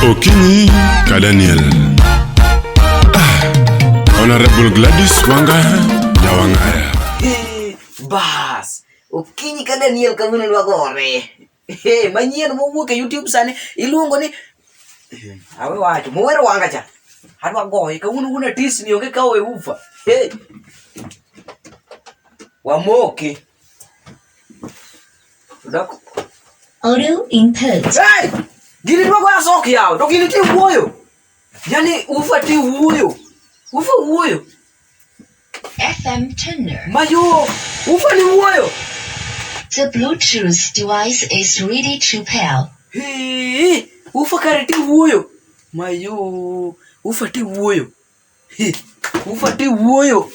Okinyi ka Daniel. Ah, Honorable Gladys Wanga Nyawang'aya. Hey, bas okinyi ka daniel kawuono dwa gore hey, manyien mowuok e youtube sani iluongo ni Eh, awe wacho mower wanga cha adwa goye kawuono wuon atis ni onge kawo e ufa hey. wamoke Audio input. Hey! Gini dwa goya sok yawo, to gini ti wuoyo. Yani ufa ti wuoyo. Ufa wuoyo. FM tuner. Mayo, ufa ni wuoyo. The Bluetooth device is ready to pair. Hii, ufa kare ti wuoyo. Mayo, ufa ti wuoyo. Ufate wuoyo.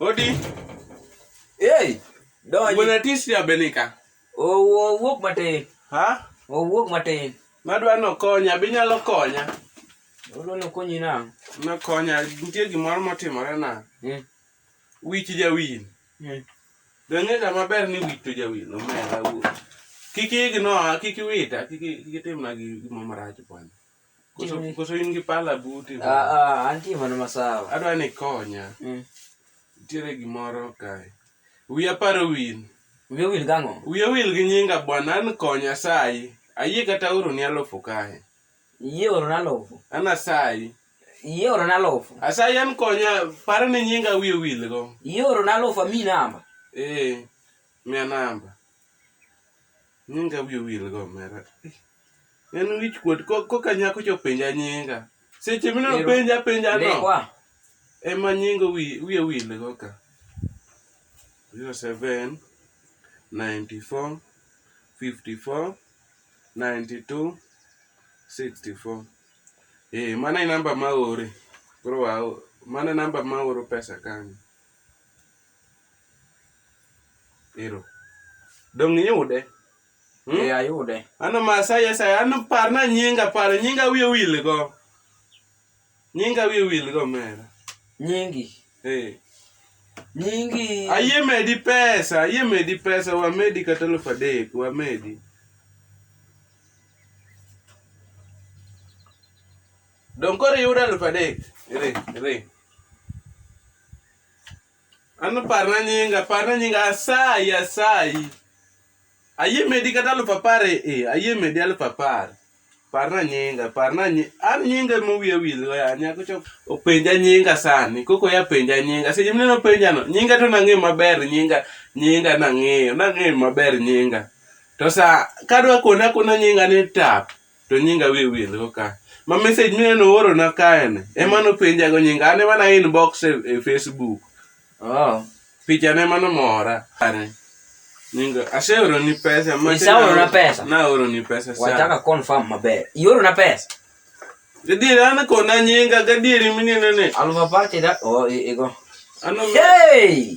Odi. Hey, donji. Bwana tisi ya benika. Owo wuok matin. Ha? Owo wuok matin. Madwa no konya, binyalo konya. Olo no konyi na. Na konya, nitie gimoro motimore na. Hmm. Wich jawin. Dang'ega maber ni wito jawi nomera wuo. Kik igno, kik iwita, kik kik itimna gi gima marach bwana. Koso Jimmy. koso in gi pala buti. Ah, bwana. ah, antie mana masawa. Adwa ni konya. Mm. Nitiere gimoro kae. Wiya paro wil. Wiyo wil gang'o? Wiya wil gi nyinga bwana an konya sayi. Ayie kata oro ni alufu kae. Yie oro na alufu. An asayi. Yie oro na alufu. Asayi an konya par ni nyinga wiye wil go. Yie oro na alufu ami namba. Eh. Mia namba. Nyinga wiye wil go mera. En wich kuot koka nyako cho penja nyinga. Seche mino penja penja no. Lekwa. Ema nyinga wiye wil go ka. 07 94 54 92 64 eh, mano e namba ma ore koro wa mano e namba ma oro pesa kanyo ero dong' iyude hmm? e ayude ano masai asai ano parna nyinga par nyinga wiye wil go Nyinga wiye wil go mera. Nyingi. Eh. Nyingi. Ayie medi pesa, ayie medi pesa, wamedi kata elfu adek, wamedi. Donge koro iyudo elfu adek? Iri, iri. Ano parna nyinga, parna nyinga asayi asayi. Ayie medi kata aluf apar e, e ayie medi aluf apar. Parna nyinga, parna nyi, an nyinga mowiya wil go ya nyako chok. Openja nyinga sani, koko ya penja nyinga. Seche mine no penja no, nyinga to nang'eyo maber nyinga, nyinga nang'eyo, nang'eyo maber nyinga. To sa kadwa kona kona nyinga ni tap, to nyinga wiye wil go ka ma message mine nooro na kae ni ema nopenja go nyinga an ema na inbox e, e facebook oh picha ne mano mora Are. nyinga aseoro ni pesa ma Isaoro na pesa? na oro ni pesa sana wataka confirm maber ioro na pesa gadieri an kona nyinga gadieri minene ne alva party da oh i- igo ano hey